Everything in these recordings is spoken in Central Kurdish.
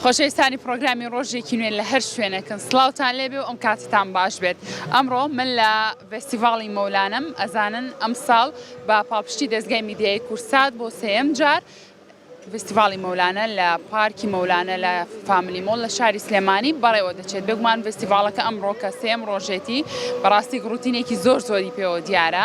خۆشەویستانی پڕۆگرامی ڕۆژێکی نوێ لە هەر شوێنێکن سڵاوتان لێبێ و ئەم کاتتان باش بێت ئەمڕۆ من لە ڤستیڤاڵی مەولانەم ئەزانن ئەمساڵ بە پاڵپشتی دەزگای میدیایی کوردسات بۆ سێیەم جار ڤستیڤاڵی مەولانە لە پارکی مەولانە لە فاملی مۆڵ لە شاری سلێمانی بەڕێوە دەچێت بێگومان ڤستیڤاڵەکە ئەمڕۆ کە سێیەم ڕۆژێتی بەڕاستی گڕوتینێکی زۆر زۆری پێوە دیارە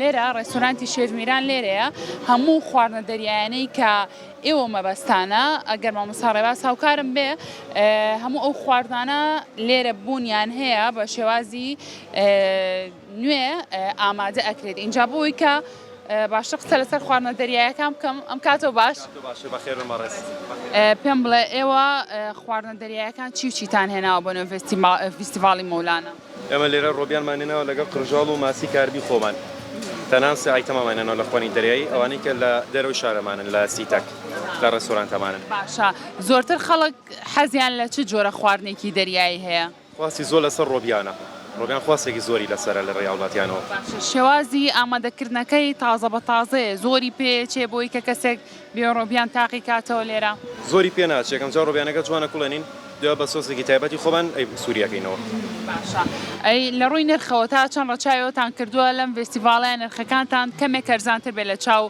لێرە ڕێستۆرانتی شێف میران لێرەیە هەموو خواردنە دەریایانەی کە ئێوە مەبەستانە ئەگەر مامۆستا ڕێباز هاوکارم بێ هەموو ئەو خواردانە لێرە بوونیان هەیە بە شێوازی نوێ ئامادە ئەکرێت اینجا بووی کە باشە قسە لەسەر خواردنە دەریایەکان بکەم ئەم کاتۆ باش پێم بڵێ ئێوە خواردنە دەریایەکان چی و چیتان هێناوە بۆ نوێ فیستیڤاڵی مۆلانە ئێمە لێرە ڕۆبیانمان هێناوە لەگەڵ قرژاڵ و ماسی کاربی خۆمان تەنان سێ ئایتەمەمان هێناوە لە خوانی دەریایی ئەوانەی کە لە دەرەوەی شارەمانن لە سیتەک لە ڕێستۆرانتەمانن باشە زۆرتر خەڵک حەزیان لە چ جۆرە خواردنێکی دەریایی هەیە؟ خواستی زۆر لەسەر ڕۆبیانە ڕۆبیان خواستێکی زۆری لەسەرە لە ڕێی هاوڵاتیانەوە. باشە شێوازی ئامادەکردنەکەی تازە بە تازەیە زۆری پێ چێ بۆی کە کەسێک بێ ڕۆبیان تاقی کاتەوە لێرە. زۆری پێ ناچێ کەم جا ڕۆبیانەکە جوانە کوڵێ نین دوێ بە سۆسێکی تایبەتی خۆمان ئەی سووری ئەکەینەوە. باشە ئەی لە ڕووی نرخەوە تا چەند ڕەچاوی ئەوتان کردووە لەم ڤێستیڤاڵەیا نرخەکانتان کەمێک هەرزانتر بێ لە چاو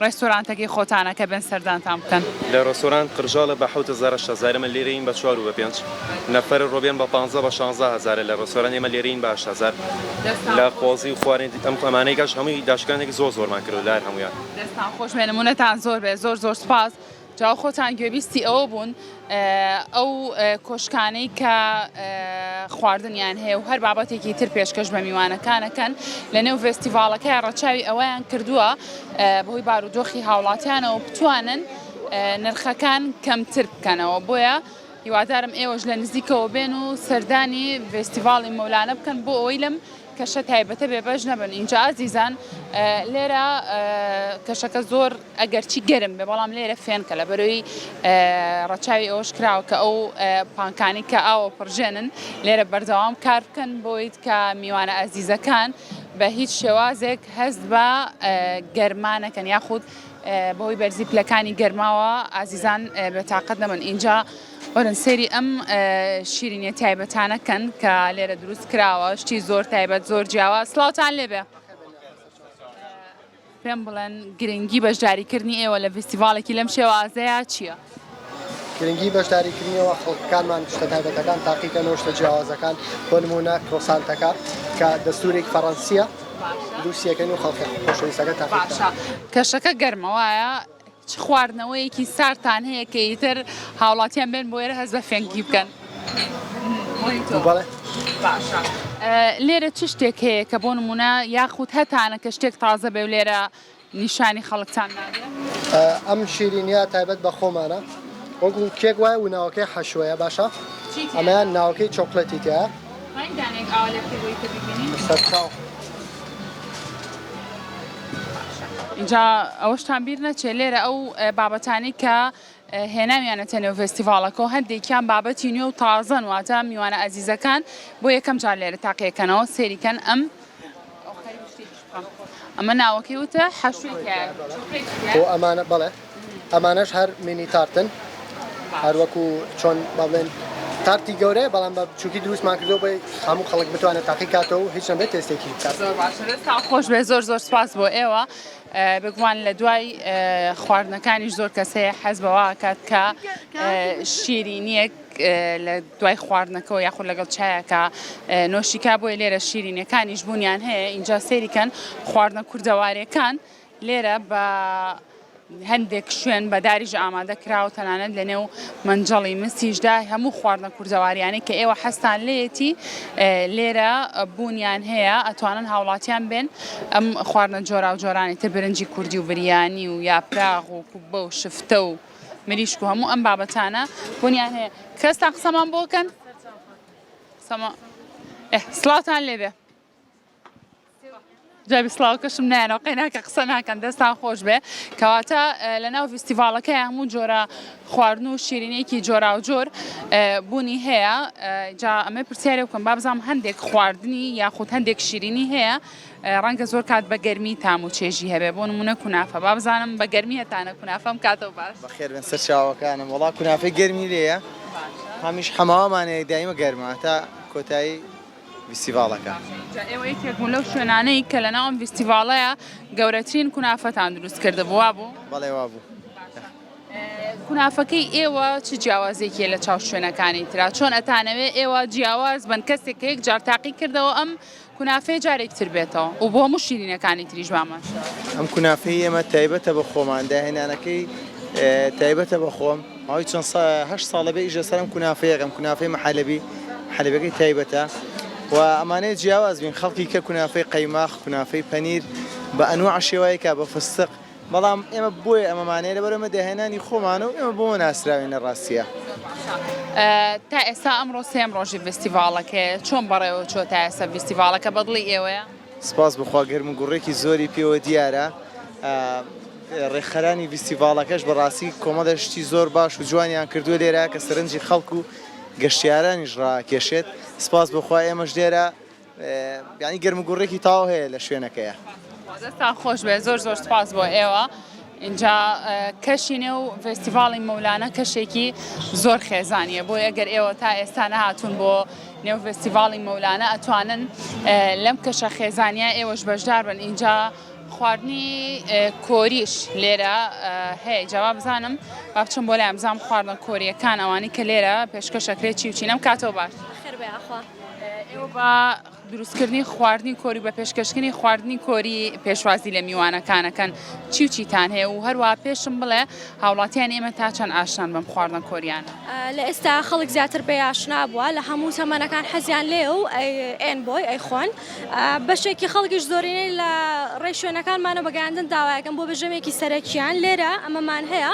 ڕێستۆرانتەکەی خۆتانا کە بێن سەردانتان بکەن؟ لە ڕێستۆرانت قرژاڵە بە حەوت هەزار هەشت هەزار ئێمە لێرەین بە چوار و بە پێنج نەفەرە ڕۆبیان بە پانزە بە شانزە هەزارە لە ڕێستۆرانت ئێمە لێرەین بە هەشت هەزار لە قۆزی و خواردنی ئەم ئەمانەی کەش هەمووی داشکاندێکی زۆر زۆرمان کردووە لە هەر هەموویان. دەستان خۆش بێ نمونەتان زۆر بێ زۆر زۆر سپاس جاو خۆتان گوێبیستی ئەوە بوون ئەو کۆشکانەی کە خواردنیان هەیە و هەر بابەتێکی تر پێشکەش بە میوانەکانەکەن لە نێو ڤستیڤالەکە ڕەچاوی ئەوەیان کردووە بەهۆی بارودۆخی هاوڵاتیانەوە بتوانن نرخەکان کەمتر بکەنەوە بۆیە هیوادارم ئێوەش لە نزیکەوە بێن و سەردانی ڤستیڤاڵی مەولانە بکەن بۆ ئەوەی لەم کەشە تایبەتە بێبەش نەبن ئینجا ئازیزان لێرە کەشەکە زۆر ئەگەرچی گەرم بێ بەڵام لێرە فێنکە لە بەرەوەی ڕەچاوی ئەوەش کراوە کە ئەو پانکانی کە ئاوە پڕژێنن لێرە بەردەوام کار بکەن بۆیت کە میوانە ئازیزەکان بە هیچ شێوازێک هەست بە گەرمانەکەن یاخود بەهۆی بەرزی پلەکانی گەرماوە ئازیزان بە تااقەت نەبن ئینجا وەرن سەیری ئەم شیرینیە تایبەتانە کەن کە لێرە دروست کراوە شتی زۆر تایبەت زۆر جیاوە سلااوان لێبێ پێم بڵێن گرنگی بەشداریکردنی ئێوە لە فستیڤالێکی لەم شێوازەیە چییە؟ گرنگی بەشداریکردنیەوە خەڵکانمان شتە تایبەتەکان تاقیکە نۆشتە جیاوازەکان بۆ نمونە کرۆسانتەکە کە دەستورێک فەڕەنسیە دووسەکەن و خەڵکە خۆشەویستەکە تا کەشەکە گەرمەوەە چ خواردنەوەیەکی ساردتان هەیە کە ئیتر هاوڵاتیان بێن بۆ ئێرە هەست بە فێنکی بکەن؟ لێرە چ شتێک هەیە کە بۆ نمونە یاخود هەتانە کە شتێک تازە بێ و لێرە نیشانی خەڵکتان نادێ؟ ئەم شیرینیە تایبەت بە خۆمانە وەکو کێک وایە و ناوەکەی حەشوەیە باشە ئەمەیان ناوەکەی چۆکلێتی تیایە. ئینجا ئەوەشتان بیر نەچێ لێرە ئەو بابەتانەی کە هێناویانەتە نێو فێستیڤاڵەکە و هەندێکیان بابەتی نوێ و تازەن واتە میوانە ئازیزەکان بۆ یەکەم جار لێرە تاقیەکەنەوە سێریکەن ئەم ئەمە ناوەکەی وتە حەشوی کە خۆ ئەمانە بەڵێ ئەمانەش هەر مینی تارتن هەروەکو چۆن بەڵێن تارتی گەورەیە بەڵام بە بچووکی دروستمان کردو بۆی هەموو خەڵک بتوانێت تاقی کاتەوە و هیچ نەبێت تێستێکی بکات خۆش بێ زۆر زۆر سپاس بۆ ئێوە بگومان لە دوای خواردنەکانی زۆر کەسەیە حەز بەواکات کە شیرینیەک لە دوای خواردنەکەوە یاخود لەگەڵ چایەکا نۆشیکا بۆیە لێرە شیرینەکانیش بوونیان هەیە ئینجا سێریکەن خواردنە کوردەوارەکان لێرە بە هەندێک شوێن بەداریش ئامادە کراوە تەنانەت لە نێو منجەڵی مسیشدا هەموو خواردنە کوردەواریانەی کە ئێوە حەستان لێتی لێرە بوونیان هەیە ئەتوانن هاوڵاتیان بێن ئەم خواردنە جۆرا و جۆرانی تر برنجی کوردی و بریانی و یاپراغ و کوبە و شفتە و مریشک و هەموو ئەم بابەتانە بوونیان هەیە کەستان قسەمان بۆکەن سلااوان لێبێ جابی سلااوکەشم نایەنەوە قەیناکە قسە ناکەن دەستان خۆش بێ کەواتە لە ناو فیستیڤالەکە هەموو جۆرە خواردن و شیرینێکی جۆرا و جۆر بوونی هەیە جا ئەمە پرسیارێ بکەم بابزانام هەندێک خواردنی یاخود هەندێک شیرینی هەیە ڕەنگە زۆر کات بە گەرمی تام و چێژی هەبێ بۆ نمونە کونافە با بزانم بە گەرمی هەتانە کونافەم کاتەوە باش بەخێربێن سەر چاوەکانم وڵا کونافەی گەرمی لێە هەمیش حەماوامانەیە دایمە گەرمە تا کۆتایی ویسیڤالەکە ئێوە یەکێکبوون لەو شوێنانەی کە لە ناوم ویسیڤالەیە گەورەترین کونافەتان دروست کردە بووە بوو بەڵێ وا بوو کونافەکەی ئێوە چ جیاوازێکی لە چاو شوێنەکانی تررا چۆن ئەتانەوێ ئێوە جیاواز بن کەسێک یەک جار تاقی کردەوە ئەم کونافەیە جارێکی تر بێتەوە و بۆ هەموو شیرینەکانی تریش با ماشاءاللە. ئەم کونافەی ئێمە تایبەتە بە خۆمان، داهێنانەکەی تایبەتە بە خۆم، ماوەی چەند سا هەشت ساڵە بێ ئیش لەسەر ئەم کونافەیە ئەکەم، کونافەی محەلەبی، محەلەبیەکەی تایبەتە و ئەمانەیە جیاواز بین، خەڵکی کە کونافەی قەیماخ، کونافەی پەنیر بە ئەنواع شێوایەکا بە فستق، بەڵام ئێمە بۆیە ئەمەمان هەیە لەبەر ئەمە داهێنانی خۆمانە و ئێمە بۆمە ناسراوین لە ڕاستیە. تا ئێستا ئەمڕۆ سێم ڕۆژی ڤستیڤاڵەکەیە چۆن بەڕێوە چووە تا ئێستا ڤستیڤاڵەکە بەدڵی ئێوەیە؟ سپاس بخوا گەرموگوڕێکی زۆری پێوە دیارە. ڕێکخەرانی ڤستیڤاڵەکەش بەڕاستی کۆمەڵێ شتی زۆر باش و جوانیان کردووە لێرە کە سەرنجی خەڵک و گەشتیارانیش ڕاکێشێت سپاس بخوا ئێمەش لێرە یانی گەرم و گوڕێکی تاو هەیە لە شوێنەکەیا. دەستتان خۆش بێت زۆر زۆر سوپاس بۆ ئێوە ئینجا کەشی نێو فێستیڤاڵی مەولانە کەشێکی زۆر خێزانیە بۆ ئەگەر ئێوە تا ئێستا نەهاتون بۆ نێو فێستیڤاڵی مەولانە ئەتوانن لەم کەشە خێزانیا ئێوەش بەشدار بن ئینجا خواردنی کۆریش لێرە هەیە جاوا بزانم با بچم بۆ لای بزانم خواردنە کۆریەکان ئەوانی کە لێرە پێشکەشەکرێت چی و چینەم کاتەوە باش ئێوە بە دروستکردنی خواردنی کۆری و بە پێشکەشکردنی خواردنی کۆری پێشوازی لە میوانەکان ئەکەن، چی و چیتان هەیە و هەروەها پێشم بڵێ هاوڵاتیانی ئێمە تا چەند ئاشنان بەم خواردنە کۆرییانە؟ لە ئێستا خەڵک زیاتر پێی ئاشنا بووە، لە هەموو تەمەنەکان حەزیان لێیە و ئەیەن بۆی ئەیخۆن، بەشێکی خەڵکیش زۆرینەی لە ڕێی شوێنەکانمانە بە گەیاندن داوای ئەکەن بۆ بژێویێکی سەرەکییان، لێرە ئەمەمان هەیە.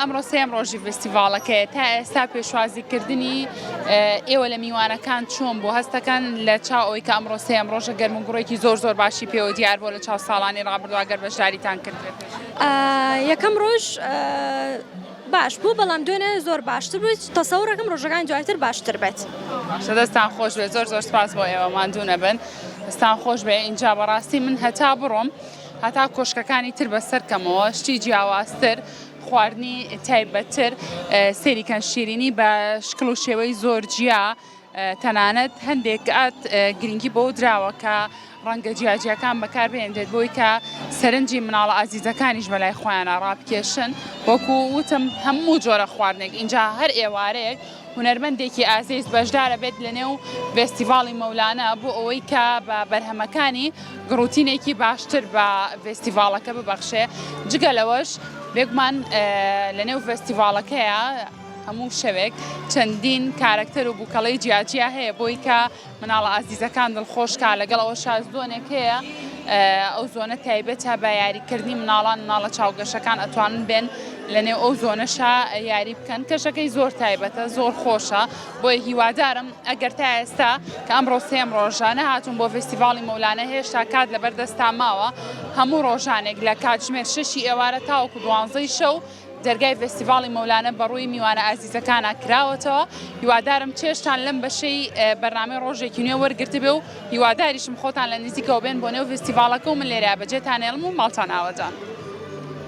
ئەمڕۆ سێم ڕۆژی فستیڤاڵەکەی تا ئێستا پێشوازی کردنی ئێوە لە میوانەکان چۆن بۆ هەستەکان لە چاو ئەوی کە ئەمڕۆ سێم ڕۆژە گەرم و گوڕێکی زۆر زۆر باشی پێوە دیار بۆ لە چاو ساڵانی ڕابردواگەر بەشداریتان کرد یەکەم ڕۆژ باش بوو بەڵام دوێنێ زۆر باشتر بوو تەسەورەکەم ڕۆژەکان دواتر باشتر بێت دەستان خۆش بێت زۆر زۆر سپاس بۆ ئێوە ماندوو نەبن دەستان خۆش بێ اینجا بەڕاستی من هەتا بڕۆم هەتا کۆشکەکانی تر بەسەر کەمەوە شتی جیاوازتر خواردنی تایبەتتر سێریکەن شیرینی بە شکل و شێوەی زۆر جیا تەنانەت هەندێک ئات گرنگی بۆ دراوە کە ڕەنگە جیاجیەکان بەکار بێنرێت بۆی کە سەرنجی مناڵە ئازیزەکانیش بەلای خۆیانە ڕابکێشن وەکو وتم هەموو جۆرە خواردنێک اینجا هەر ئێوارەیەک هونەرمەندێکی ئازیز بەشدارەبێت لەنێو ڤێستیڤاڵی مەولانە بۆ ئەوەی کە بە بەرهەمەکانی گڕوتینێکی باشتر بە ڤێستیڤاڵەکە ببەخشێ جگە لەوەش بێگومان لەنێو ڤێستیڤاڵەکەیە هەموو شەوێک چەندین کارەکتەر و بوکەڵەی جیاجیا هەیە بۆی کە مناڵە ئازیزەکان دڵخۆش کا لەگەڵ ئەوەشا زۆنێک هەیە ئەو زۆنە تایبەتە بە یاریکردنی مناڵان مناڵە چاوگەشەکان ئەتوانن بێن لەنێو ئەو زۆنەشا یاری بکەن کەشەکەی زۆر تایبەتە زۆر خۆشە بۆیە هیوادارم ئەگەر تا ئێستا کە ئەم ڕۆسێم ڕۆژانە هاتون بۆ فستیڤاڵی مەولانە هێشتا کات لەبەردەستا ماوە هەموو ڕۆژانێک لە کاتژمێر شەشی ئێوارە تاوەکو دوانزەی شەو دەرگای ڤێستیڤاڵی مەولانە بەڕووی میوانە ئازیزەکانا کراوەتەوە، هیوادارم چێژتان لەم بەشەی بەرنامەی ڕۆژێکی نوێ وەرگرتبێ و هیواداریشم خۆتان لە نیزیکەوە بێن بۆ نێو ڤێستیڤاڵەکە و من لێرەیا بەجێتان هێڵم و ماڵتان ئاوەدان.